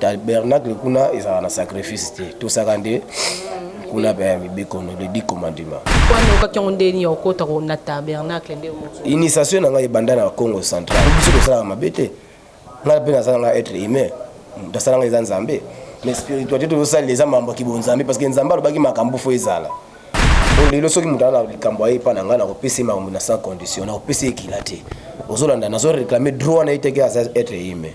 Tabernacle kuna ezala na sacrifice te. Tosaka nde kuna pe mibeko no le dit commandement. Pourquoi no kakango ndeni au kota ko na tabernacle nde mo. Initiation na ngai banda na Congo central. Biso tosalaka mabe te. Ngai pe nasala ngai être humain. Nasala ngai eza Nzambe. Mais spiritualité tozosalela eza mambo ya kibonzambe parce que Nzambe alobaki makambo fo ezala. lelo soki moto aza na likambo aye epai na ngai nakopesa ye makambo na sans condition nakopesa ye ekila te ozolanda nazoreklame droit na ye teke aza etre ime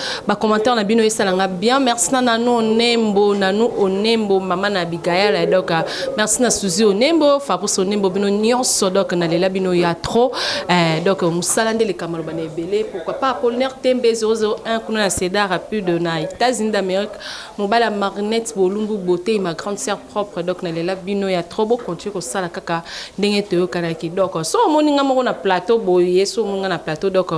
Ba commentaires na bino esala nga bien. Merci na Nanu Onembo, Nanu Onembo, mama na Abigail et donc euh, merci na Suzy Onembo, Fabrice Onembo bino nyonso donc na lela bino ya trop. Euh, donc musala nde le kamalo bana ebele. Pourquoi pas Apollinaire Tembe 001 kuna na Cedar rapide na États-Unis d'Amérique. Mobala Marinette Bolumbu beauté ma grande sœur propre donc na lela bino ya trop bo continue ko sala kaka ndenge to yokanaki donc so omoni nga moko na plateau boye so omoni nga na plateau donc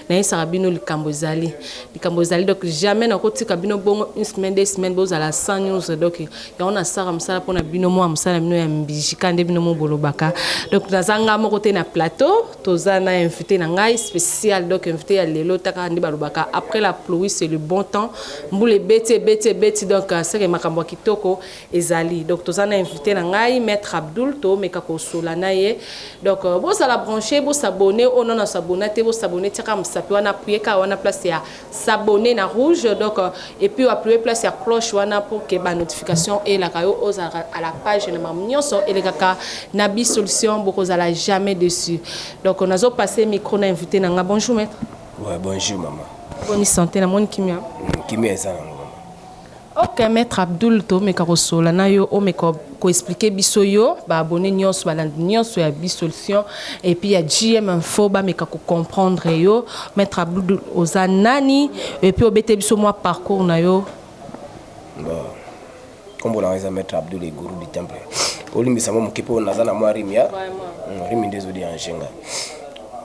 na yesaka bino likambo ezali likambo ezali donc jamais na kotika bino bongo une semaine deux semaines bozala sans news donc yango na sala mosala pona bino mwa mosala bino ya mbijika nde bino mo bolobaka donc naza nga moko te na plateau Toza na invite na ngai special donc invite ya lelo taka nde balobaka après la pluie c'est le bon temps mbula ebeti ebeti ebeti donc euh, seke makambo ya kitoko ezali donc toza na invite na ngai maître Abdul toomeka kosola na ye donc euh, bozala branche bosabone oyo nano asabona te bosabone tiaka mosapi wana apuyeka wana place ya s'abonner na rouge donc et puis appuyer place ya cloche wana pour que ba notification elaka yo ozalaka à la page na mamu nyonso elekaka na bi solution bokozala jamais dessus donc nazo passer micro na invité na nga bonjour maître ouais bonjour maman boni santé na moni kimia kimia eza na Ok maitre Abdoul tomeka kosolola na yo omeka ko expliquer biso yo ba abonnes nionso balandi nionso ya bi solution et puis ya JM info bameka ko comprendre yo maitre Abdoul oza nani et puis obete biso mwa parcours na yo Bon. Kombo na eza maître Abdoul et Gourou du temple. Olimbisa mo moke po naza na mwa rime ya. Mm, rime ndezo di anjenga.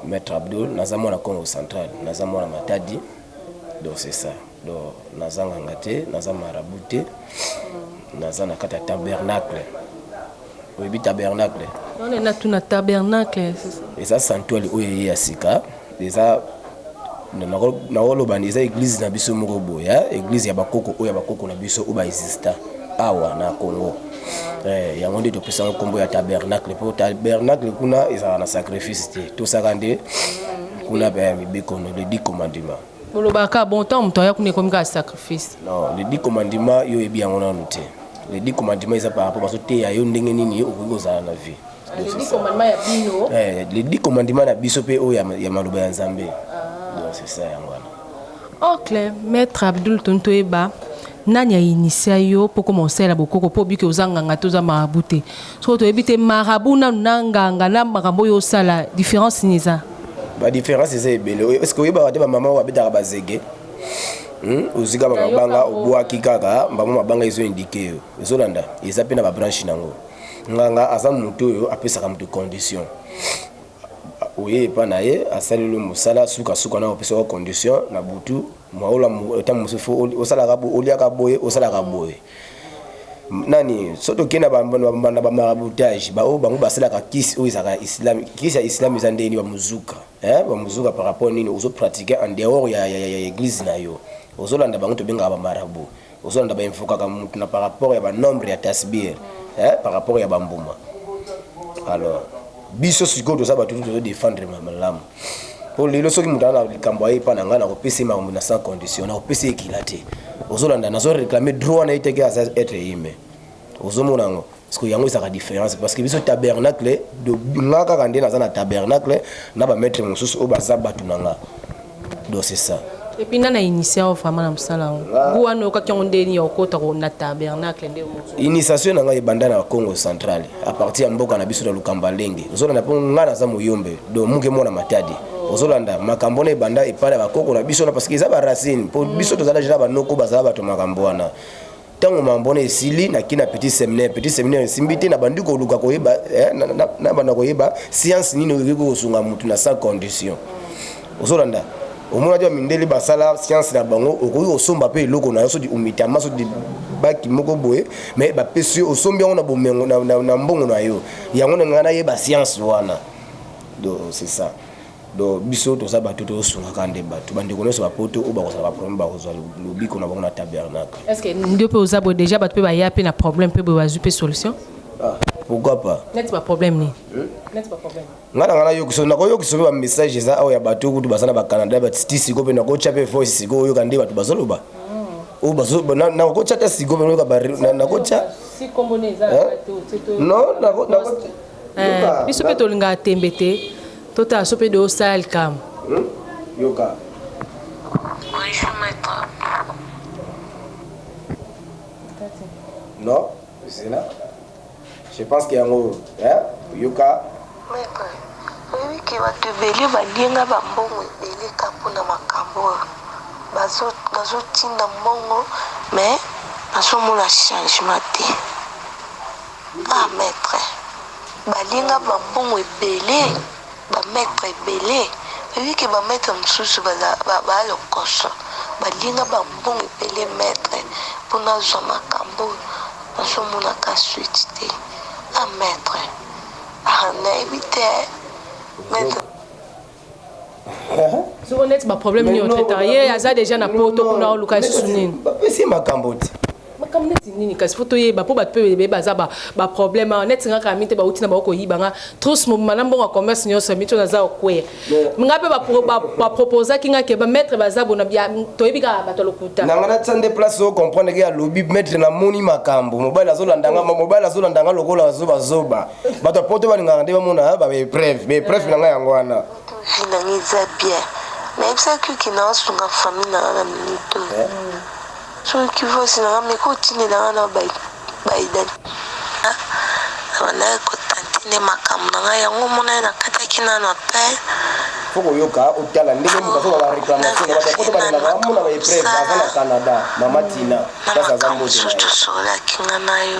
Maître Abdoul naza mwana Congo central, naza mwana Matadi. Donc c'est ça. Donc naza nganga te, naza marabout te. Naza na kati ya tabernacle. Oyebi tabernacle? Wana na tuna tabernacle. Eza sanctuary oyo eye ya sika. Eza nakoloba eza eglise na biso moko boye, hein? eglise ya bakoko oyo ya bakoko na biso oyo ba exista awa na Congo. Eh, yango nde topesaka nkombo ya tabernacle mpo tabernacle kuna ezalaka na sacrifice te tosaka nde kuna mibeko le dit commandement Bolobaka bon ntango moto aya kuna ekomi kaka sacrifice. Non, les dix commandements yo oyebi yango nanu te. Les dix commandements eza par rapport bazoteya yo ndenge nini okoki kozala na vie. Donc, c'est ça. Eh, les dix commandements na biso mpe oyo ya, ya maloba ya Nzambe. Donc c'est ça yango wana. Ok, maître Abdul Tontoeba. Nani a initia yo po okoma kosala la bokoko po obike oza nganga te oza marabout te sikoyo toyebi te marabout nanu na nganga na makambo oyo osala difference nini eza. Ba difference eza ebele oyo eske oyebaka te ba mama oyo babetaka ba zege Hum, ozwi kaka mabanga obwaki kaka mbango mabanga ezo indike yo ozolanda eza mpe na ba branche nango nganga aza moto oyo apesaka moto condition oye epa na ye asaleli mosala sukasuka na opesaka condition na butu Maolo ntango mosusu fo osalaka boye oliaka boye osalaka boye nani so tokei na bamarabutage baoyo bango basalaka kisi oyo ezalaka islame kisi ya islame eza ndenge nini bamozuka bamozuka par rapport nini ozo pratique en dehors ya, ya, ya, ya eglise na yo ozolanda bango tobengaka bamarabu ozolanda ba invokaka mutu na par rapport ya ba nombre ya tasbir eh, par rapport ya bambuma alors biso sikoyo toza bato tozo défendre malamu mpo lelo soki moto ana likambo aye epa na ngai nakopesa ye makambo na sans condition nakopesa ye ekila te ozolanda nazo réclame droit na ye teke aza être humain ozomona yango parceke yango ezalaka différence parceke biso tabernacle nga kaka nde naza na tabernacle na bamaitre mosusu oyo baza bato na nga donc c'est ça epuis nga na initia yo vraiment na mosala yango ah. gu wana oyokaki yango ndeni ya okota na tabernacle nde initiation na ngai ebanda na congo central à partir ya mboka na biso na lukamba lenge ozolanda mpo ngai naza moyombe donc muke mwana matadi ozolanda makambo wana ebanda epai ya bakoko na biso na parce que eza baracine mpo biso tozala jela banoko bazala bato makambo wana ntango mambo wana esili naki na petit seminaire petit seminaire esimbi te nabandi koluka koyeba eh, nabanda koyeba science nini oyoki kosunga motu na sans condition ozolanda omonaki bamindele basala science na bango okoki kosomba mpe eloko na yo sodi umitama sodi baki moko boye me bapesi yo osombi yango na bomengo na mbongo na yo yango na ngai nayeba science wana do c'est ça Donc biso toza bato tozo sunga kaka nde bato. Ba ndeko nionso ba poto oyo bako zala ba problème bako zwa lobiko na bango na tabernacle. Est ce que nde pe oza boye dejà bato pe baya pe na problème pe boye bazwi pe solution? Ah pourquoi pas. Neti ba problème nini? Hum? Neti ba problème. Nga na nga na yokiso nako yokiso pe ba message eza awa ya bato kutu baza na ba Canada ba titi siko pe nako tya pe voice siko oyoka nde bato bazo loba. Oyo bazo na nako tya ta siko pe oyoka ba nako tya. Si kombo ne eza bato. Non nako nako. Biso pe tolingaka tembe te. Tota aso pe do sala likambu. Hum yoka. Bonjour maître. Non, zela. Je pense que yango hein yoka. Maître, oyebi ke bato ebele balie nga bambongo ebele ka mpo na makambo oyo bazotinda mbongo mais nazomona changement te Ba maitre balinga ba mbongo ebele ba maitre ebele oyebi ke ba maitre mosusu ba lokoso balinga ba mbongo ebele maitre pona azwa makambo nazomonaka suite te a maitre ah nayebi te maitre soko neti baproblème nini otraitaka ye aza déjà na poto kuna oluka lisusu nini bapesi makambo te makambo neti nini kasi fo toyeba mpo bato mpe bebe baza baproblème awa neti nga kami te bauti na bango koyiba nga trus mobima na mbongo ya commerce nyonso mito naza okwea nga mpe baproposaki nga ke bamaître baza bona toyebi kaka bato ya lokuta na nga natya nde place o comprendre ke alobi maître namoni makambo mobali azolanda nga mobali azolanda nga lokola zobazoba bato ya poto balingaka nde bamona baepreuve baepreuve na ngai yango wana vie na ngai eza bien nayebisaki oke naosunga famille na nga na minito soki vosi na nga meka otindela nga na baidani abandaki kotante nde makambo na ngai yango omonai nakataki nano apel fo koyoka otala ndenge moto azoka bareclamation na bato ya poto balingaka bamona baepreuve aza na canada mama tina place aza mbote na ye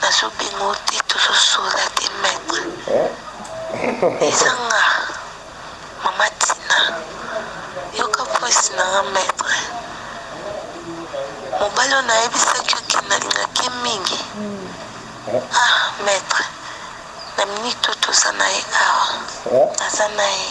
Nazo benga yo te tozo sola te maitre eza nga mama tina yoka voice na nga maitre mobali oyo nayebisaki yo ke nalingaki ye mingi ah maitre na minute oyo toza na ye awa naza na ye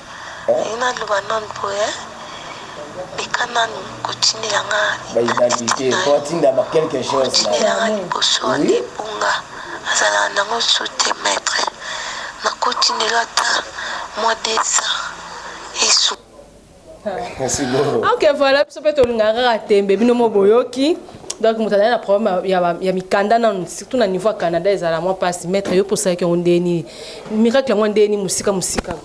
Nalingi na loba nanu boye meka nanu ko tindela nga identite nayo ko tindela nga liboso wana ebunga azalaka nango sous te maitre nako tindelo ata mua desa esu ok voilà biso mpe tolingaka kaka tembe bino mo boyoki donc moto azali na problème ya mikanda nanu surtout na niveau ya canada ezala mwa mpasi maître yo mpe osalaki yango ndenge nini miracle yango ndeni mosika mosika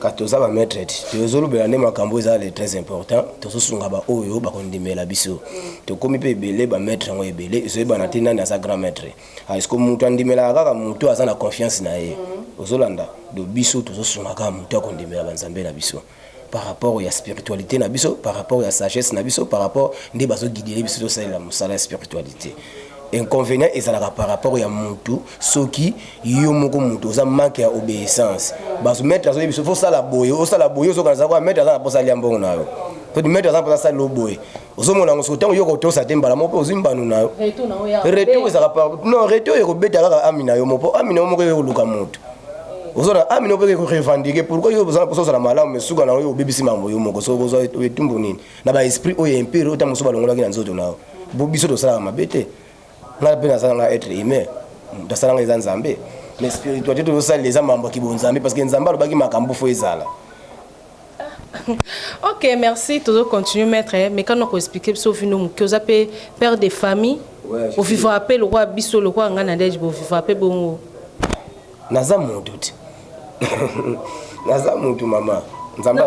ka toza ba maître ti tozolobela nde makambo eza le très important tozosunga baoyo bakondimela biso tokomi mpe ebele ba maître yango ebele ezoyebana te nani aza grand maître ah, ceque moto andimelaka kaka moto aza na confiance na ye ozolanda do biso tozosungaka moto akondimela banzambe na biso par rapport ya spiritualite na biso par rapport ya sagesse na biso par rapport nde bazo guidele biso tosalela mosala ya spiritualite inconvénient ezalaka par rapport ya mutu soki yo moko mutu oza manque ya obéissance bazo maître azoyebi biso fosala boye osala boye ozokana za kwa maître aza na posa alia mbongo na yo kodi maître aza na posa asala yo boye ozomona yango soki ntango yo kotosa te mbala moko mpe ozwi mbano na yo reto ezalaka par non reto oyo ekobeta kaka ami na yo moko mpo ami na yo moko eye koluka moto ozona ami na yo mpe korevandike pourkoi yo ozana mposa ozala malamu esuka na yo obebisi makambo yo moko soki ozwa etumbu nini na baesprit oyo empire oyo ntango mosusu balongolaki na nzoto na yo bo biso tosalaka mabe te ngai mpe nasalanga être humain nasalanga eza nzambe mais spiritualité tozosalela eza mambo ya kibonzambe parce que nzambe alobaki makambo fo ezala ok merci tozo continue maître eh, mais kano ko expliquer biso vino moke oza pe père de famille ouais, ovivaka pe lokola biso lokola ngai na deje bovivaka pe bongo naza moto te naza moto mama nzambe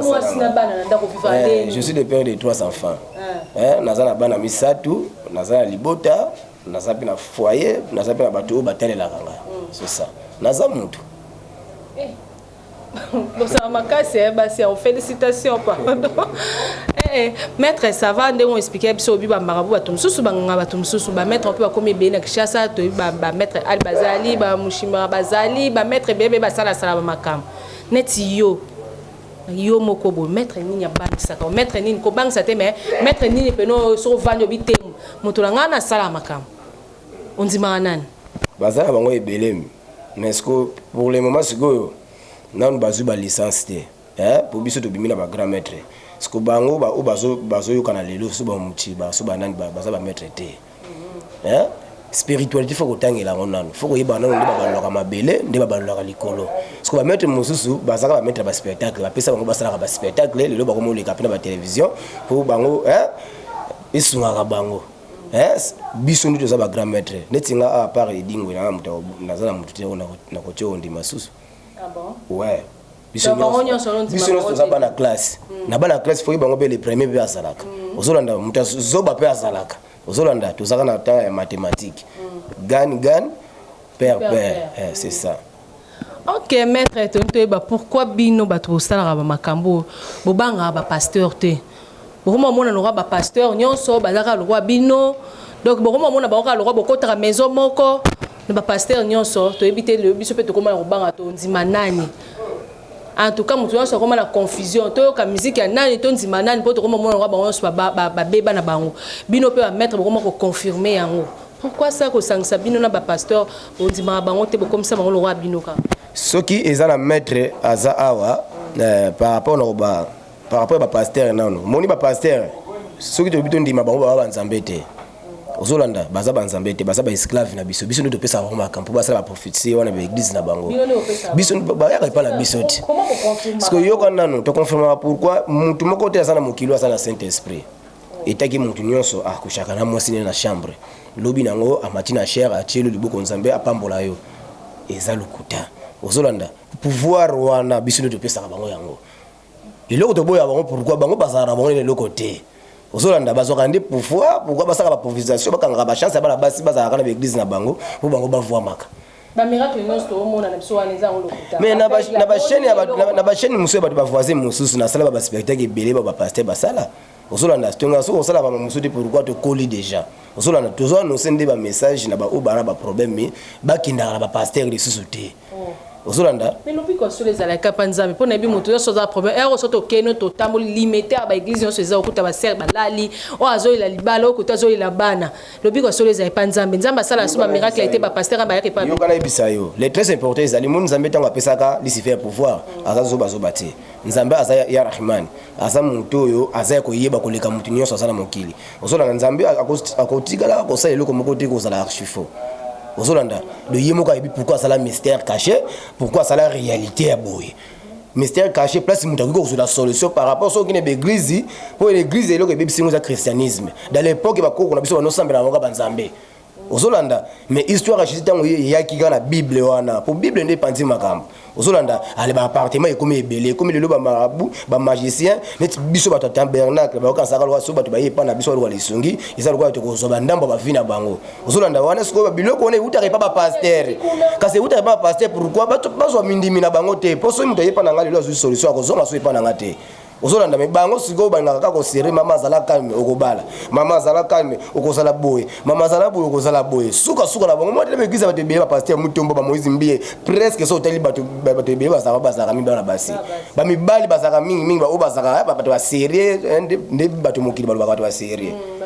eh, je suis le père de trois enfants ah. eh, naza na bana misato naza na libota naza mpe na foyer naza mpe na bato oyo batalelaka ngai mm. c'est ça naza moto bosala makasi eh, basi yao félicitation pardon eh, eh, maître ça va ndenge oexplike biso obi bamarabu bato mosusu banganga bato mosusu bamaître mpe bakomi ebele na kinshasa toyebi bamaître ali bazali bamushimara bazali bamaître ebele mpe basalasala bamakambo neti yo yo moko boye maître nini abangisaka o maître nini kobangisa te mais maître nini mpena soki ovandi obi te moto na ngai nasala makambo ondimaka nani baza na bango ebelemi mais ce que pour le moment sikoyo nanu bazwi ba licence te eh, po biso tobimi na ba grand maître siko bango ba oyo bazo bazoyokana lelo so bamuciba so banani baza ba maître te eh? spiritualité fo kotangela yango nanu fo koyeba nanu nde babalolaka mabele nde babalolaka likolo siko bamaitre mosusu bazaka bamaitre ya baspectacle bapesa bango basalaka baspectacle lelo bakomoleka mpe na batelevizio mpo bango esungaka bango Yes, biso ndio toza ba grand maître. Neti nga a part Edingwe na mutu naza na mutu te na kotia ondi masusu. Ah bon? Ouais. Biso ndio biso ndio toza bana classe. Hmm. Na bana classe faut bango be le premier be azalaka. Hmm. Ozolanda mutu zoba pe azalaka. Ozolanda tozaka na temps ya mathématique. Hmm. Gan gan père père. Eh, c'est ça. Ok maitre toni toyeba pourquoi bino bato bosalaka ba makambo oyo bobangaka ba pasteur te bokoma omona lokwa ba pasteur nyonso bazaka lokwa bino donc bokoma omona bango kaka lokwa bokotaka maison moko na ba pasteur nyonso toyebi te lelo biso mpe tokoma na kobanga tondima nani en tout cas moto nyonso akoma na confusion toyoka miziki ya nani tondima nani mpo tokoma omona lokwa bango nyonso babeba na bango bino mpe bamaitre bokoma koconfirme yango Pourquoi ça kosangisa bino na ba pasteur bondimaka bango te bokomisa bango lokola bino kaka soki eza na maître aza awa eh, par rapport na ba par rapport ba pasteur nano moni ba pasteur soki tobi tondima bango baba banzambe te ozolanda baza banzambe te baza baesclave na biso biso nde topesaka bango makambo mpo basala baprophetie wana baeglize na bango biso bayaka epai na biso te sikoyoka nano toconfirmaka pourkui motu moko te aza na mokili aza na saint esprit Etaki mutu nionso a kushaka na mwasi naye na chambre lobi nango amati na chaire atie yo liboko nzambe apambola yo eza lokuta ozo landa pouvoir wana biso nde topesaka bango yango eloko toboya bango pourquoi bango bazala na bango na eloko te ozo landa bazwaka nde pouvoir pourquoi basaka ba provisation bakangaka ba chance ya bana basi bazalaka na ba eglise na bango po bango bavuamaka ba miracle nionso toomona na biso wana eza yango lokuta mais na ba chaîne na ba chaîne mususu ya bato ba voisin mususu nasala ba ba spectacle ebele ba ba pasteur basala ozolanda tonga soki osala ba mosusu te pourquoi tokoli déjà ozolanda tozo annonce nde bamessage na baoyo baa na baproblème me bakendaka na bapastere lisusu te oh. ozolanda me lobiko ya solo ezalaka mpa nzambe mpo nayebi moto nyonso aza problème ero so tokeno totamboli limete ya baeglize nyonso eza okuta basere balali oyo azolela libala oyo kote azolela bana lobiko ya solo ezali mpa nzambe nzambe asala so bamiracle ete bapastere bayaka epa yoka nayebisa yo le très important ezali moni nzambe ntango apesaka lucifer pouvoir aza zobazoba te nzambe aza ya rahman aza moto oyo aza ya koyeba koleka moto nyonso aza na mokili ozolanda nzambe akotikala kosala eloko moko te kozala archifo ozolanda do ye moko ayebi pourkui asala mystère caché pourkui asala réalité ya boye mystère caché place moto akoki kozwela solution par rapport soki okende baeglize mpo eglize eloko ebebisi yango eza christianisme dans l'époque bakoko na biso banosambela yango ka banzambe ozolanda mais histoire ya jesus ntango ye eyaki kaka na bible wana mpo bible nde epanzi makambo ozolanda ale baappartement ekomi ebele ekomi lelo bamarabu bamagicien neti biso bato ya tabernacle bayokanisaka lokola so bato baye epai na biso balokola lisungi eza lokola tokozwa bandambo ya bavi na bango ozolanda wana sikoyo biloko wana eutaka epa bapastere kasi eutaka epa bapastere pourkui bazwa mindimi na bango te mpo soki moto ayepa na ngai lelo azwi solution akozonga so epa na ngai te ozolanda me bango sikoyo balingaka kaka kosere mama azala calme okobala mama azala calme okozala boye mama azala boye okozala boye sukasuka na bango mwatele baeglise bato ebele bapaster mutombo bamoise mbiye presque so otali bato ebele bazalaka bazalaka mingi bana basi bamibali bazalaka mingi mingi baoyo bazalaka eh, bato baserie eh, nde bato mokili balobaka bato baserie mm,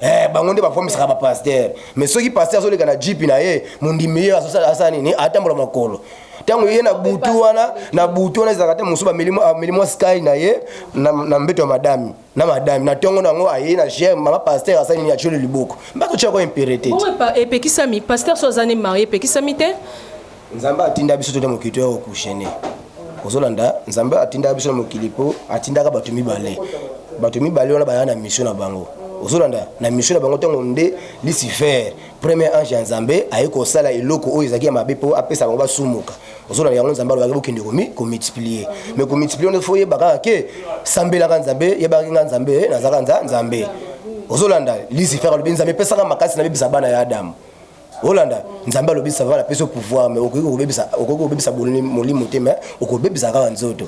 eh, bango nde bafomisaka bapaster mais soki paster azoleka na jipi na ye mondimi ye asala nini atambola makolo ah, ntango ye na butu wana na butu wana ezalaka te mosusu ameli mwa sky na ye na mbeto ya madami na madami na ntongo na yango aye na germe mama paster asali nini atyoli liboko mba totya kwa impere te epekisami paster so aza ne marie epekisami te nzambe atinda biso tona mokili toya kokushene kozolanda nzambe atindaka biso na mokili mpo atindaka bato mibale bato mibale wana baya na misio na bango ozolanda na misio na bango ntango nde lucifer Premier ange ya Nzambe aye kosala eloko oyo ezalaki ya mabe mpo apesa bango basumuka. Ozolanda yango Nzambe alobaki bokende komi komultiplier. Mais komultiplier wana faut yeba kaka ke sambelaka Nzambe, yebaki nga Nzambe, eh, nazaka nza Nzambe. Ozolanda Lucifer alobi Nzambe epesaka makasi na bebisa bana ya Adam. Olanda Nzambe alobi ça va la peso pouvoir mais okoki kobebisa okoki kobebisa molimo te mais okobebisa kaka nzoto.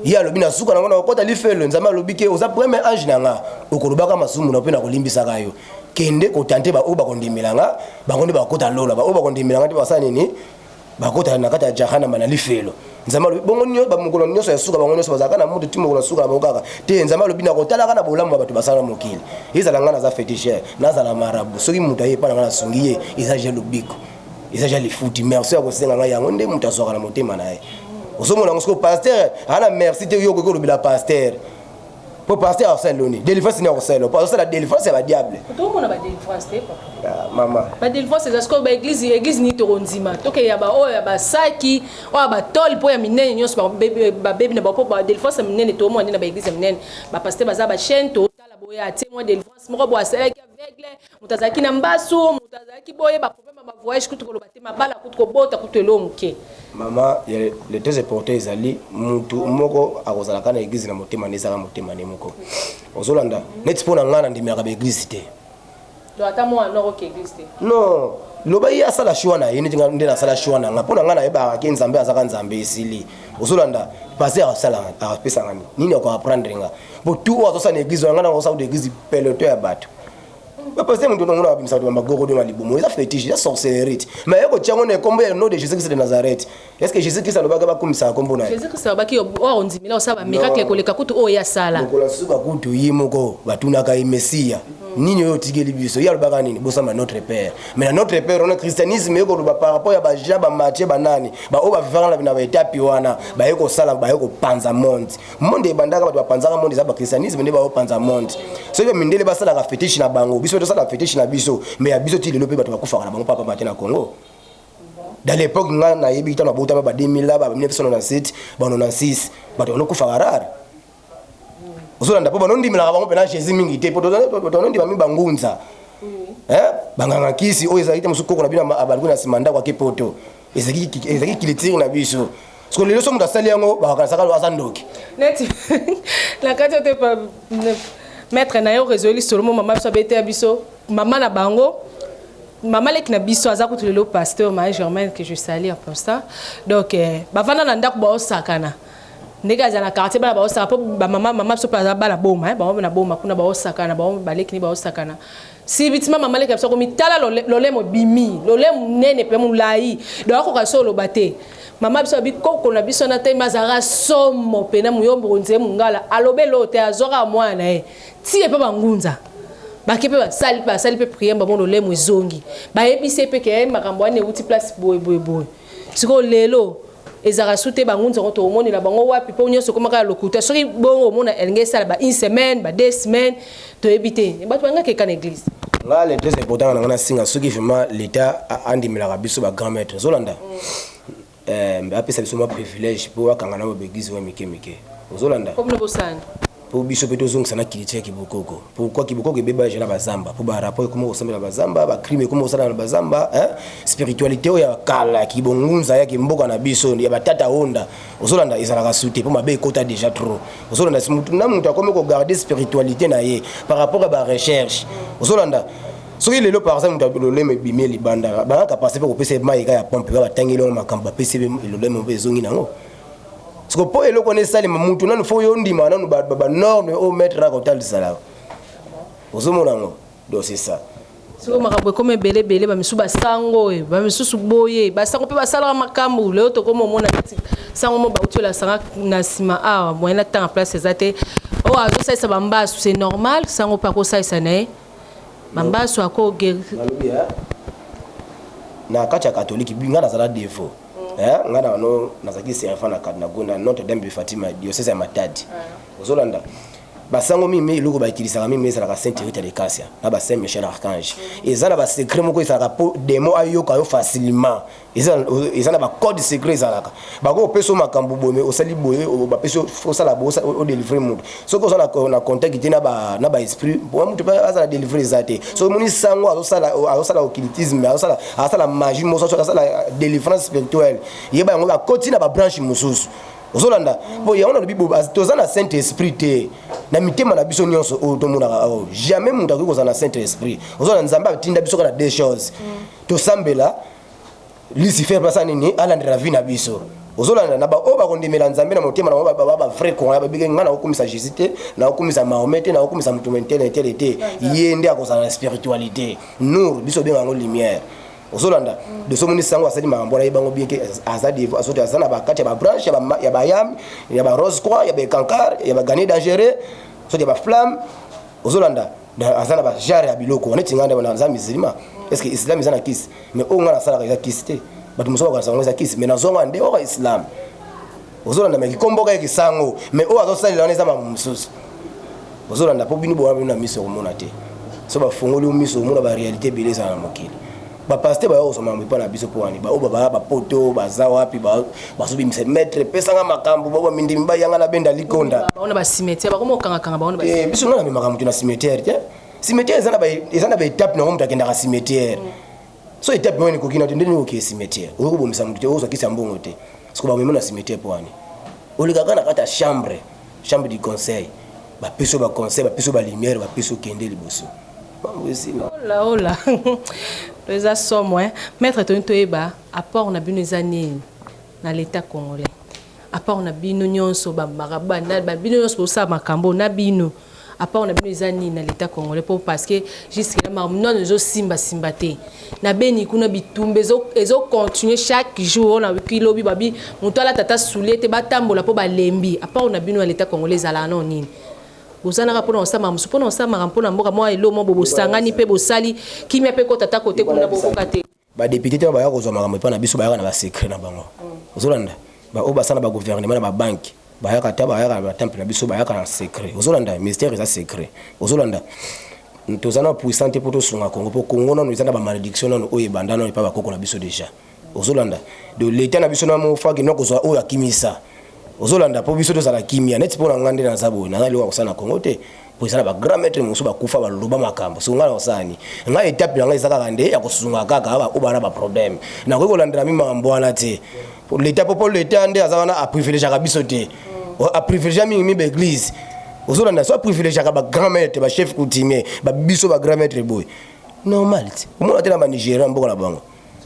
Ye alobi na suka na ngo na kokota lifelo Nzambe alobi ke oza premier ange na nga okolobaka masumu na mpe na kolimbisaka yo. kende kotante baoyo bakondimela nga bango nde bakota lola baoyo bakondimela nga nde basala nini bakota na kati ya jahanama na lifelo nzambe alobi bongo nio bamokolo nyonso ya suka bango nyonso bazalaka na moto ti mokolo ya suka na bango kaka te nzambe alobi nakotalaka na bolamu ya bato basala mokili ezala ngai naza fetichere nazala marabu soki moto aye epai na ngai nasungi ye eza ja lobiko eza ja lifuti merci ya kosenga ngai yango nde moto azwaka na motema na ye ozomona yango soko paster ana merci te yo okoki kolobela paster po pasteur asala loni délivrance nini akosala po azosala délivrance ya badiable tokomona badélivrance te ah, mama badélivrance eza sikoyo baeglise église nini tokondima tokeya baoyo ya basaki oyo ya batole mpo ya minene nyonso babebi na bapo badélivrance ya minene tokomona nde na baeglise ya minene bapaster baza bachaine totala boye atie mwa délivrance moko boye asalaki aveugle moto azalaki na mbasu moto azalaki boye baproblème ya bavoyage kutu koloba te mabala kutu kobota kutu elo moke mama le tese porte ezali motu moko akozalaka na eglize na motema nde ezalaka motema nde moko ozolanda neti mpo na ngai nandemelaka baeglize te non loba ye asala shwa na ye neti nde nasala shwa na ngai mpo na ngai nayebaka ke nzambe azaka nzambe esili ozolanda pase asala apesanga nini akoaprendre nga bo tu oyo azosala na eglize wana ngai nakosala na eglize peloto ya bato ba pasteur mutu nango na bimisa ba magoro de malibumu eza fetiche eza sorcellerie mais yako tiango na kombo ya nom de Jésus Christ de Nazareth est-ce que Jésus Christ alobaka ba kumisa kombo na Jésus Christ alobaki yo oh, o ndimela osala ba miracle koleka kutu oyo ya sala kola suka kutu yi moko batunaka ye messia nini oyo otikeli biso ye alobaka nini bosamba notre père mais na notre père wana christianisme ye koloba par rapport ya bajean bamatie banani baoyo bavivaka na baetapi wana baye kosala baye kopanza monde monde ebandaka bato bapanzaka monde eza bakristianisme nde baopanza monde soki bamindele basalaka fetiche na bango biso tosalaka fetiche na biso me ya biso ti lelo mpe bato bakufaka na bango papa mate na congo dans l'époque nga nayebi ntango nabotama ba 2000 la ba 1997 ba 96 bato banokufaka rare ozolanda mpo banondimelaka bango mpena jésus mingi te mpo tonondima mingi bangunza banganga nkisi oyo ezalaki te mosusu koko na bino abandi na nsima ndako ake poto ezali ezali culture na biso siko lelo so moto asali yango bakanisaka aza ndoki neti na kati ote maître na yo rezoeli solomo mama biso abeteya biso mama na bango mama leki na biso aza kutu lelo pasteur marie germaine que je sali en constant donc eh, bavanda na ndako baosakana ndenge azala na quartier bana baosaka mpo bamama mama biso mpe aza bana boma eh, bango na boma kuna baosakana bango baleki ni baosakana Sibitima mama leki na biso akomi tala lolemo bimi lolemo nene pe mulayi donc akoka so oloba te mama biso abi koko na biso na temi azalaka somo pe na muyombo konze mungala alobe lo te azwaka mwana na ye tiye pe bangunza bake pe basali basali pe prière bango lolemo ezongi bayebisi ye pe ke makambo wana ewuti place boye boye boye sikoyo lelo Ezalaka su te ba ngunza yango tokomonela bango wapi mpo nyonso ekoma kaka lokuta. Soki bongo omona elingi esala ba une semaine, ba deux semaines, toyebi te. Bato balingaka keka na eglise. Nga le tres important nanga na singa soki vraiment l'etat andimelaka biso ba grand maitre ozolanda euh, apesa biso mwa privilège po akanga na ba begizi oyo mike mike ozolanda comme na bosani Po biso pe tozongisa na culture ya kibokoko. Pourquoi kibokoko ebeba dejà na ba zamba? Po ba rapport ekoma kosambela ba zamba, ba crime ekoma kosalema na ba zamba hein. Spiritualite oyo ya kala ya kibongunza ya kimboka na biso ya ba tata onda ozolanda ezalaka sute po mabe ekota dejà trop. Ozolanda mutu na mutu akomi ko garder spiritualite na ye par rapport ya ba recherches. Ozolanda soki lelo par exemple mutu lolemo ebimi ye libanda, ba nga capacite pe kopesa ye mayi kaka ya pompe, nga batangeli yango makambo bapesi ye pe lolemo pe ezongi na yango. siko mpo eloko wana esalema motu nanu fo yo ondima nanu banorme oyo maître na kotalisa na ozomona yango donc c'est ça soko makambo ekoma ebele ebele bamisusu basango oyo bamisusu boye basango mpe basalaka makambo lelo tokoma omona neti sango mo bauti olasanga na nsima awa moyen na ntanga place eza te oyo oh, azosalisa bambasu c'est normal sango mpe akosalisa na ye bambasu akogeri na kati ya katolike ngai nazala defaut eh nga na no nazaki servant na kadna gona notre dame de fatima diocèse ya matadi ah. ozolanda basango mingi mingi eloko bakilisaka mingi mingi ezalaka saint hérite de casia na ba saint michel archange mm. eza na basecret moko ezalaka mpo demo ayoka yo facilement eza na bacode secret ezalaka bakoki kopesa yo makambo boye osali boye bapesi osala boye odelivre moto soki oza na contact te na ba esprit mpo moto mpe azala délivre eza te soki omoni sango azosala occultisme asala magie moso asala délivrance spirituelle yeba yango bakoti na babranche mosusu ozolanda mpo yango nalobi toza na saint esprit te na mitema na biso nyonso oyo tomonaka oyo jamais moto akoki kozala na saint esprit ozolanda nzambe atinda biso kaka na deux choses tosambela Lucifer mpe asala nini? Alandela vie na biso. Ozolanda na baoyo bakondimela Nzambe na motema na bango ba vrai Congolais babike ngai nakokumisa Jésus te, nakokumisa Mahomet te, nakokumisa motu mentele etele te. Ye nde akozala na spiritualité. Nour biso obenga yango lumière. ozolanda doso omoni sango asali makambo wana yebango bien ke aza devo azoti aza na bakati ya babranche ya bayam ya barose croix ya baecankar ya bagane dangereux soki ya baflamme ozolanda aza na bajare ya biloko neti ngai ndeko naza musulman est-ce que islam eza na kisi mais oyo ngai nasalaka eza kisi te bato mosusu bakanisa yango eza kisi mais nazwa ngai nde oka islam ozolanda mai kikomboka ye kisango mais oyo azosalela wana eza mamu mosusu ozolanda mpo bino bowana bino na miso okomona te so bafongoli yo miso omona barealité ebele ezala na mokili ba pasteur bayo kozwa makambo epai na biso mpo wani baoyo babaya bapoto baza wapi bazobimisa maître pesanga makambo bao bamindimi bayanga na benda likonda baona bacimetière bakoma kokangakanga baona eh, biso ngai namemaka moto na cimetière te cimetière eza na baetape nango moto akendaka cimetière mm. so etape moko ekoki na te ndenge okee cimetière okoki kobomisa moto te okozwa kisi ya mbongo te soko bamemi na cimetière mpo wani olekaka na kati ya chambre Chambre du conseil ba pesi yo ba conseil ba pesi yo ba lumière ba pesi yo kende liboso. Mambo esila. Hola hola. Eza somo hein. Maître toni toyeba apport na bino eza nini na l'état congolais. Apport na bino nyonso ba marabou na bino nyonso bosala makambo na bino. Apart na bino eza nini na l'etat congolais po parce que jusque là mamnano ezo simba simba te na beni kuna bitumba ezo ezo continuer chaque jour on a wiki lobi babi moto ala tata soulier te batambola po balembi apart na bino ya l'etat congolais ezala na nini bozalaka mpona kosambaka mosusu mpona kosambaka mpona mboka mwa elo mwa bobosangani mpe bosali kimia mpe kotata kote kuna bokoka te Ba deputes te oyo baya kozwa makambo epai na biso bayaka na ba secret na bango. Ozolanda? Ba oyo basala ba gouvernement na ba banki bayaka ata bayaka na ba temple na biso bayaka na secret. Ozolanda? Ministère eza secret. Ozolanda? Toza na puissant te mpo tosunga Congo mpo Congo nanu eza na ba malediction nanu oyo ebanda nanu epai ba koko na biso deja. Ozolanda? Do l'etat na biso na mo faki no kozwa oyo akimisa. Ozolanda? Mpo biso tozala kimia neti mpo na nga nde naza boye naza eloko ya kosala na Congo te. po eza na ba grand maître mosusu bakufa baloba makambo soko ngai na kosala ni ngai etape na ngai eza kaka nde ya kosunga kaka baoyo bana baproblème nakoki kolandela mi makambo wana te leta po po leta nde aza wana aprivilegiaka biso te aprivilegia mingi mi baeglise ozolanda so aprivilegiaka bagrand maître bachef coutumier babiso bagrand maître boye normal te omona te na banigéria mboka na bango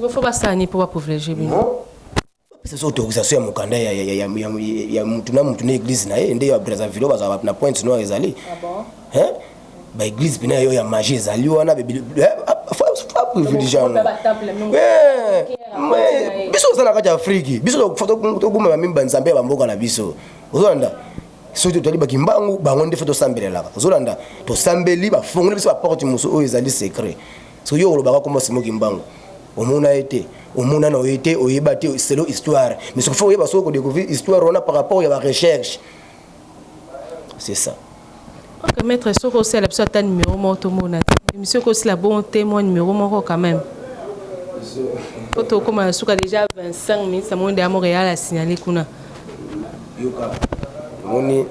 fo basani mpo baprivilegie bino bapesa biso autorisation ya mokanda ya mutu na mutu na eglise na ye nde ya brazzaville bazala na pointe noire ezali ah baeglise mpena yo ya magie ezali wana privilegiango eh, eh, biso oza na kati ya afriki biso tokumama mimi banzambe ya bamboka na biso ozolanda soki totali bakimbangu bango nde fe tosambelelaka ozolanda tosambeli bafongoli biso baporte mosusu oyo ezali secret soki yo olobaka komba simo kimbangu omona ye te omona na oye te oyeba te selo histoire mais soki fo oyeba soki kodécouvrir histoire wana par rapport ya barecherche c'est ça ok maître soki osala biso ata numéro moko tomona te émission ekosila bon te mwa numéro moko quand même po tokóma na suka déjà 25 minutes amoni deya montréal asignale kuna yoka omoni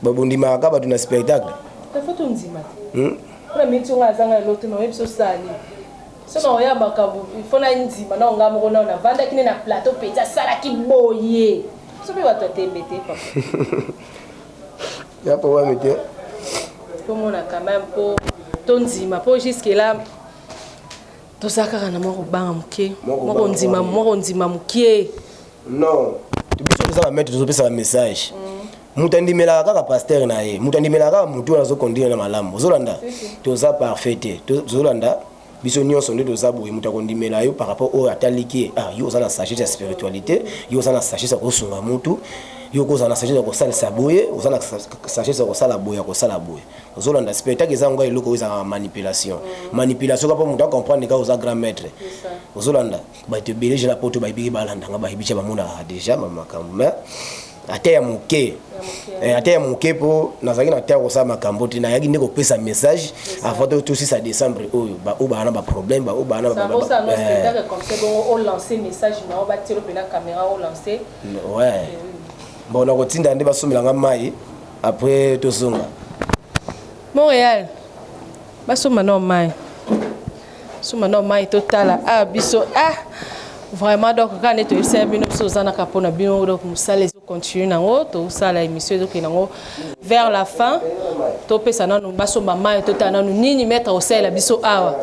babondimaka bato na spectacle Pona minute oyo nga nazanga eloko te mais oyebisi osala nini? Soki nakoya makambo il faut nandima nao nga moko nao navandaki nde na plateau penza asalaki boye. Biso mpe bato ya tembe te papa. Ya papa mike. Tomona quand même mpo tondima mpo jusque là tozala kaka na mwa kobanga moke mwa kondima moke non biso toza ba maître tozopesa ba message moto andimelaka kaka pasteur na ye moto andimelaka kaka motu wana azokondire na malamu ozolanda toza parfait te tozolanda biso nyonso nde toza boye moto akondimela yo par rapport oyo ataliki ye ah yo oza na sagesse ya spiritualité yo oza na sagesse ya kosunga motu yo kozala na sagesse ya kosalisa boye oza na sagesse ya kosala boye ya kosala boye ozolanda spirit taki eza yango eloko oyo ezalaka manipulation manipulation kaka mpo moto acomprendre kaka oza grand maître ozolanda Batu ebele dejà na poto bayebi balanda nga bayebi dejà bamonaka dejà ma makambo mais ata ya moke eh, ata ya moke mpo nazalaki na ntango kosala makambo te nayaki nde kopesa message avant to tosisa décembre oyo baoyo baa na baproblème baoyo baa na bon nakotinda nde basombela nga mai après tozonga montréal basomba nao mai suma na mai totala ah biso ah vraiment donc kaka nde toyebisa ya bino biso toza naka mpo na bino donc mosala ezocontinue nango tosala émission ezokende nango vers la fin topesa nanu basomba mai totala nanu nini maître akosalela biso awa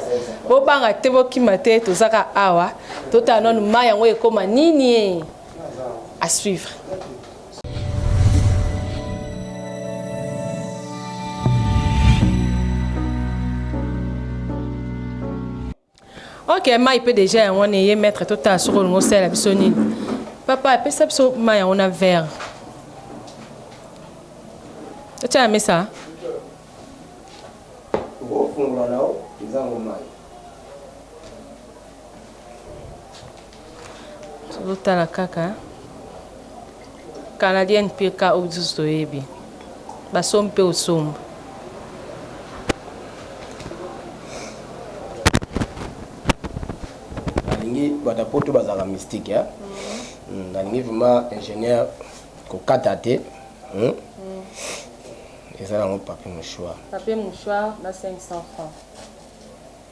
bobanga te bokima te tozaka awa totala nanu mai yango ekoma nini à suivre ok mai mpe deja yango wana eye maître totala soki olingi osalela biso nini papa apesa biso mai yango na vere otya na mesa Tozo tala kaka canadienne pe ka oyo lisusu toyebi ba sombi pe osomba. Nalingi batu ya poto bazalaka mystique hein nalingi vraiment ingenieur kokata te eza nango papier mouchoir. Papier mouchoir na 500 francs.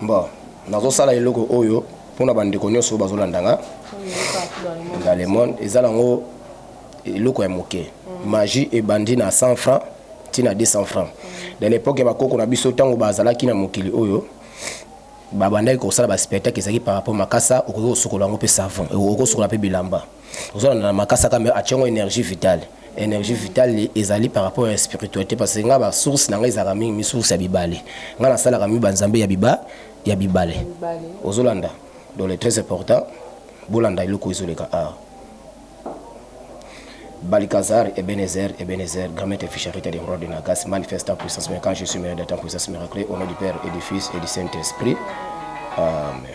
Bon, nazosala eloko oyo mpo na bandeko nyonso oyo bazolanda nga na le monde eza nango eloko ya moke mm. magie ebandi na 100 francs ti na 200 francs mm. na lepoke ya bakoko na biso ntango bazalaki na mokili oyo babandaki kosala baspectacle ezalaki par rapport makasa okoki kosukola yango mpe savon okoki kosukola mpe bilamba ozo na makasa kame ationgo energie vitale energie vitale ezali par rapport ya spiritualité parce que nga ba source na nga ezalaka mingi mi source ya bibale nga nasalaka mi ba nzambe ya biba ya bibale ozolanda donc le très important bolanda eloko ezoleka awa Balikazar, Ebenezer, Ebenezer, grand maître Fischerite des rois de Nagas, manifeste en puissance, mais quand je suis meilleur d'être en puissance miraculée, au nom du Père et du Fils et du Saint-Esprit. Amen.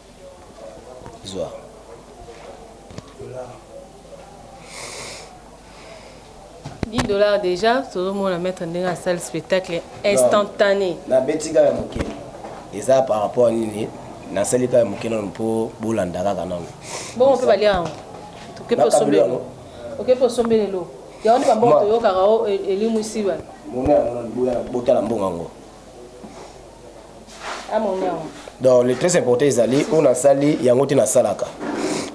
Zwa. Dix dollars dejà tozomona maître ndenge asali spectacle instantané nabeti kaka moke eza par rapport à nini nasali kaka moke nano mpo bolanda kaka nano bongo mpe balia yango tokepe osombe yango okepe osombe lelo yango nde bambongo toyokaka o elimwisi bana botala mbongo yango donc le très important ezali oyo nasali yango te nasalaka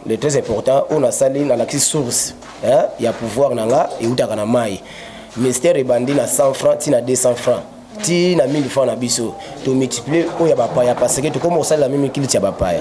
le très important oyo nasali nalakisi source hein, ya pouvoir na nga eutaka na mai ministère ebandi na 100 francs ti na 200 francs ti na 1000 francs na biso tomultiplie oyo ya bapaya parce que tokoma kosalela mimi kiliti ya bapaya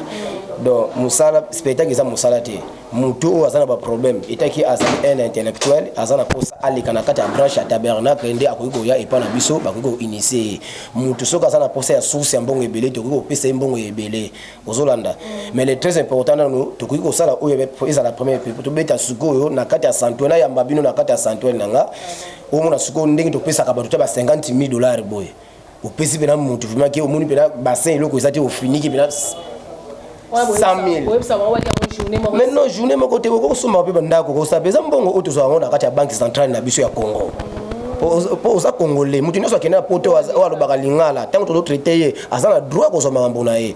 donc mosala spectacle eza mosala te moto oyo aza na baproblème etaki azali un intellectuel aza na mposa aleka na kati ya branche ya tabernacle nde akoki koya epai na biso bakoki koinitie ye moto soki aza na mposa ya source ya mbongo ebele tokoki kopesa ye mbongo ya ebele ozolanda mais le très important nano tokoki kosala oyo ezala premier pe tobeta sikoyo na kati ya santuel ayamba bino na kati ya santuel na nga omona sikoyo ndenge topesaka bato ta ba 50 000 dollars boye opesi mpena motu vrima ke omoni mpena bassin eloko eza te ofiniki mpena 100000 mais non journée moko te okosomba mpe bandako kosala mpe eza mbongo oyo tozwa yango na kati ya banque centrale na biso ya congo mpo oza congolais moto nyonso akende na poto oyo alobaka lingala ntango tozotraite ye aza na droit kozwa makambo na ye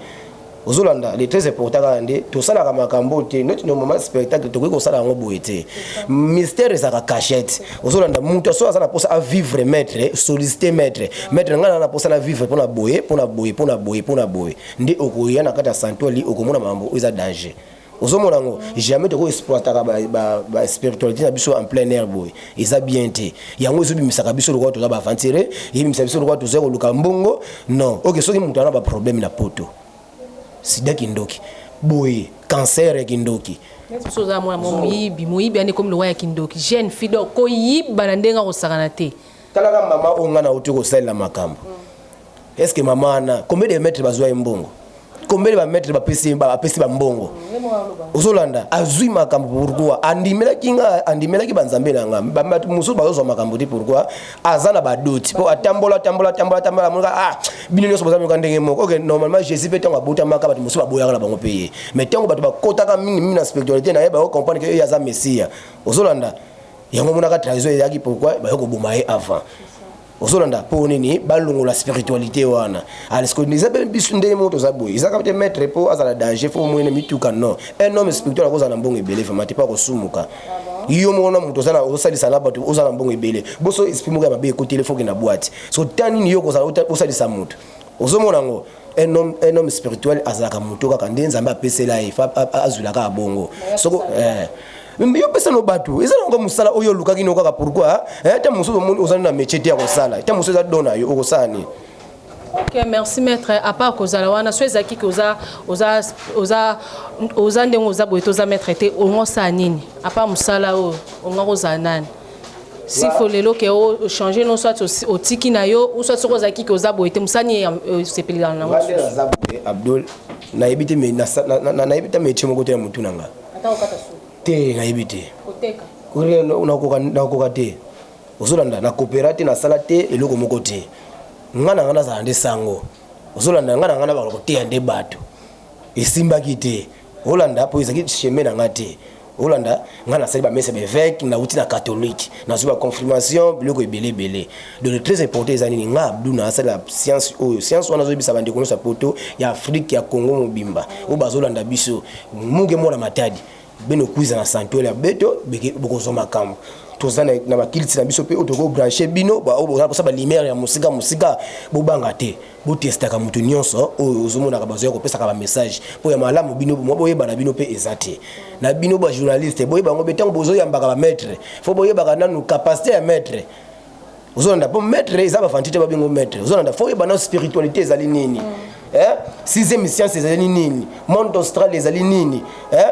ozolanda les très important kaka nde tosalaka makambo te not no moment spectacle tokoki kosala yango boye te mystère ezalaka cachette ozolanda moto soki aza na mposa avivre maître sollicité maître maître ngai naa na mposa na vivre mpo na boye mpo na boye mpo na boye mpo na boye nde okoya na kati ya santuali okomona makambo oyo eza danger ozomona yango jamais toko exploitaka baspiritualité na biso en plein air boye eza bien te yango ezobimisaka biso lokola toza baaventure ebimisa biso lokola toza koluka mbongo non oke soki moto ana baproblème na poto sida kindoki boye cancer ya kindoki biso oza mwana mwa moyibi moyibi ane komi lokola ya kindoki jeune fille donc koyiba na ndenge akosakana te talaka mama oyo ngai nauti kosalela makambo mm. Est-ce que maman wana combien de mètres bazwa ye mbongo? Combien de ba mètres bapesi bapesi ba mbongo? Ozolanda azwi makambo pourquoi? Andimelaki nga andimelaki ba nzambe na nga. Ba bato mosusu bazozwa makambo te pourquoi? Aza na badoti mpo atambola tambola tambola tambola amonaka ah bino nyonso boza myoka ndenge moko. Okay, normalement Jésus mpe ntango abotamaka bato mosusu baboyaka na bango mpe ye. Mais ntango bato bakotaka mingi mingi na spiritualité na ye bayo comprendre que ye aza Messia. Ozolanda yango monaka trahison eyaki pourquoi bayo koboma ye avant. ozolanda mpo nini balongola spiritualité wana alesiko ah, eza mpe biso ndenge moko toza boye eza kaka te maître mpo azala danger fo omwene mituka non un homme spirituel akozala na mbongo ebele vraiment te mpo akosumuka yo moko na moto oza osalisa na bato oza na mbongo ebele boso esprit moko ya mabe ekotele foke na bwati so ta nini yo okozala osalisa moto ozomona yango un homme, un homme spirituel azalaka moto kaka nde nzambe apesela ye azwila kaka bongo soko eh. yo pesa no bato eza nango mosala oyo olukaki no kaka pourkui eh, ta mosusu omoni ozali na métier te ya kosala ta mosusu eza don na yo okosala nini ok merci maître à part kozala wana so ezalaki ke oza oza oza oza ndenge oza boye te oza maître te ongo osala nini à part mosala oyo ongo kozala nani S'il faut lelo que o oh, changer non soit otiki na yo ou soit soko ozalaki que oza boye te mosani osepelelaka nango aza boye abdol nayebi te nayebi ta metie moko te ya motu na nga te nayebi te nakoka te ozolanda na coopera te nasala te eloko moko te nga na nga nazala nde sango ozolanda nga na nga na baka koteya nde bato esimbaki te olanda po ezaki chemin na nga te olanda nga nasali ba messe beveke nauti na catholique nazwi ba confirmation biloko ebele ebele donc le très important eza nini nga abdu na asala science oyo science wana azoyebisa bandeko nyonso ya poto ya afrique ya congo mobimba oyo bazolanda biso muke mwana matadi bino kuiza na santuel ya beto bokozwa makambo toza na bakiliti na biso mpe oyo tokobranche bino baoyo boza kosa balimere ya mosika mosika bobanga te botestaka moto nyonso oyo ozomonaka bazoya kopesaka bamessage mpo ya malamu bino mwa boyeba na bino mpe eza te na bino bajournaliste boyeba yango mpe ntango bozoyambaka bamaitre fo boyebaka nanu capacité ya maitre ozolanda mpo maitre eza bafanti te babengo maitre ozolanda fo oyeba nano spiritualité ezali nini eh? sixième science ezali nini monde austral ezali nini eh?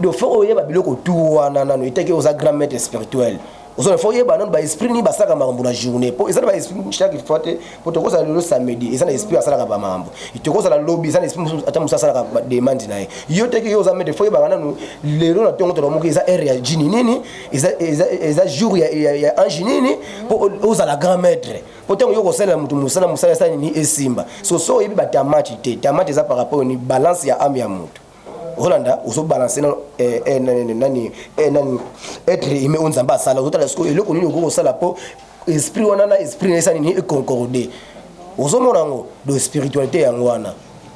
do fo oyeba biloko tu wana nano etaki oza grand maitre spirituel ozo na faut yeba nanu ba esprit ni basaka makambo na journée po eza na ba esprit chaque fois te po toko za lelo samedi eza na esprit asala ka ba makambo toko za la lobby eza na esprit ata musa asala ka ba demande na ye yo te ki yo za mede faut yeba nanu lelo na tongo toko moki eza heure ya jini nini eza eza eza jour ya ya, ya ange nini po oza la grand maître po tango yo ko sala mutu musala musala sala ni esimba so so yebi ba tamati te tamati eza par rapport ni balance ya ame ya mutu Rolanda ozo balancer na eh, eh, nani nani eh, nani être humain oyo Nzambe asala ozotala sikoyo eloko nini okoki kosala mpo esprit wana na esprit na esani nini econcorde ozomona yango do spiritualité yango wana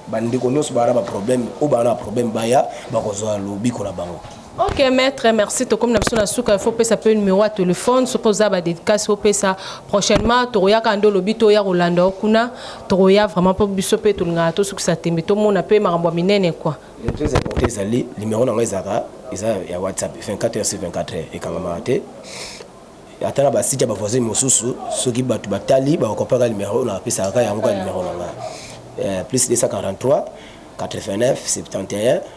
bandeko nyonso baa na baproblème oyo baa na baproblème baya bakozwa lobiko na bango Ok maître, merci. Tokomi na biso na suka, il faut pesa pe numéro ya téléphone soki oza ba dédicace opesa prochainement tokoyaka ndo lobi toya kolanda yo kuna tokoya vraiment mpo biso mpe tolingaka tosukisa tembe tomona mpe makambo ya minene kua très important ezali numéro na ngai ezalaka eza ya whatsapp 24 heures sur 24 heures ekangamaka te ata na basite ya bavoisin mosusu soki bato batali bakokopaka numéro na apesaka kaka yango ka numéro na ngai eh, plus 243 89 71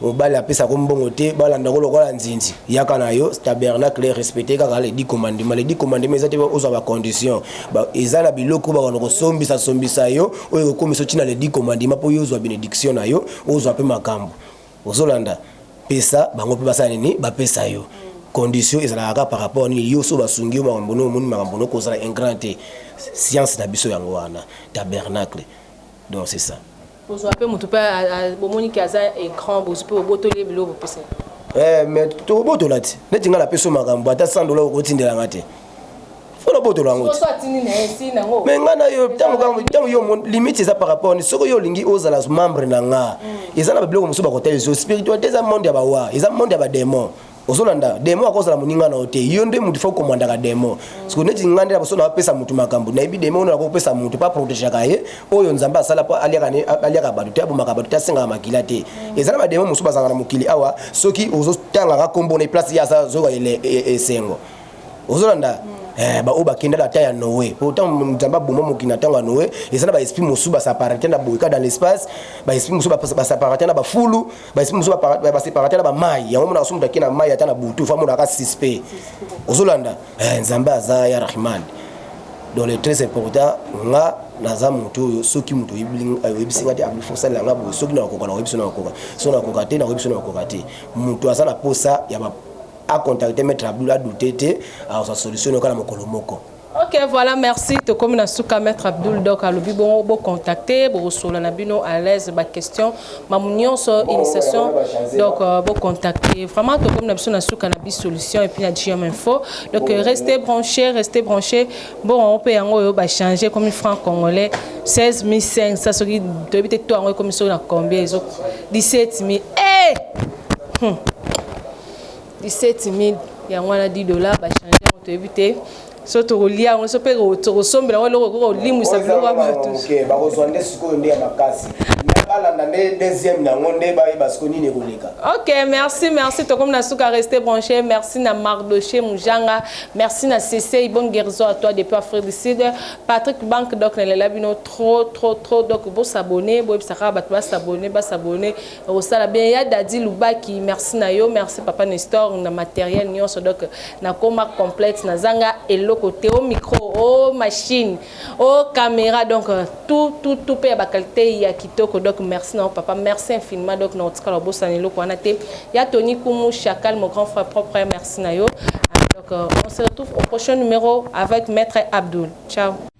mobali apesa ko mbongo te balanda ko lokola nzinzi yaka na yo tabernacle respecte kaka le dit commandement le dit commandement eza te ozwa ba condition ba eza na biloko bakana kosombisa sombisa yo oyo ekokomisa otina le dit commandement mpo yo ozwa benediction na yo ozwa mpe makambo ozolanda pesa bango mpe basala nini bapesa yo condition ezalaka kaka par rapport nini yo so basungi yo makambo no omoni makambo no kozala ingrand te science na biso yango wana tabernacle donc c'est ça Kozua pe mutu pe bomoni ke aza ecran bozwi pe bobotoli ye biloko bopesa ye. Eh, mais tokobotola ti neti ngai napeso makambo ata 100 dola okotindela ngai te fo nabotola yango me ngai na yo ntango yo limite eza par rapport ni soki yo olingi ozala membre na nga mm. eza na babiloko mosusu bakotala ezo spiritualité eza monde ya bawa eza monde ya bademon ozolanda demo akozala moninga na yo te yo nde motu fo komandaka demo siko neti nga nde naboso napesa motu makambo nayebi demo ono nakopesa motu pa protegaka ye oyo nzambe asala po aliaka bato te abomaka bato te asengaka makila te eza na bademo mosusu bazalaka na mokili awa soki ozotangaka nkombo na place ye aza zoka e, e, esengo ozolanda eh, baoyo bakendaka ata ya noe po ntango nzambe aboma mokili na ntango ya noe eza na baesprit mosusu basaparate na boyeka dans l'espace baesprit mosusu basaparate na bafulu basi mosusu baseparate na bamai yango monaka soki moto ake na mai ata na butu fa monaka suspect ozolanda eh, nzambe aza ya rahman donc le très important nga naza moto oyo soki moto oyebisi nga te akosalela nga boye soki nakokoka nakoyebisi nakokoka soki nakokoka te nakoyebisi nakokoka te moto aza na posa ya akontacte maître abdul adute te akozwa solution yoka na mokolo moko Ok, voilà, merci. Tokomi na suka maître Abdul Dok alobi bongo bo contacter, bo solo na bino à l'aise ba question, mamu nyonso initiation. Donc euh, bo contacter. Vraiment tokomi na biso na suka na bi solution et puis na GM info. Donc euh, restez branchés, restez branchés. Bon, on peut yango yo ba changer comme franc congolais 16500 ça ce qui doit être toi en comme sur la combien ils ont 17000. Eh! Hey! Hmm. 17000 yango wana 10 dollars ba changer yango toyebi te so tokolia yango so mpe tokosombela yango eloko ekoki kolimwisa biloko ya bato bakozwa nde sikoyo nde ya makasi balanda nde deuxième nango nde bayeba siko nini ekoleka ok merci merci tokomi na suka reste branché merci na mardoche mujanga merci na sesei bon guérison à toi depuis afrique du sud patrick bank donc nalela bino trop trop trop donc bosabone boyebisa kaka bato basabone basabone Osala bien ya Daddy Lubaki, merci na yo, merci papa Nestor na matériel nionso donc nakoma complète na zanga eloko te au micro, au machine, au caméra donc euh, tout tout tout pe ba qualité ya kitoko donc merci na yo papa, merci infiniment donc na otikala bosana eloko wana te. Ya Tony Kumu Chacal mon grand frère propre, merci na yo. Donc euh, on se retrouve au prochain numéro avec maître Abdul. Ciao.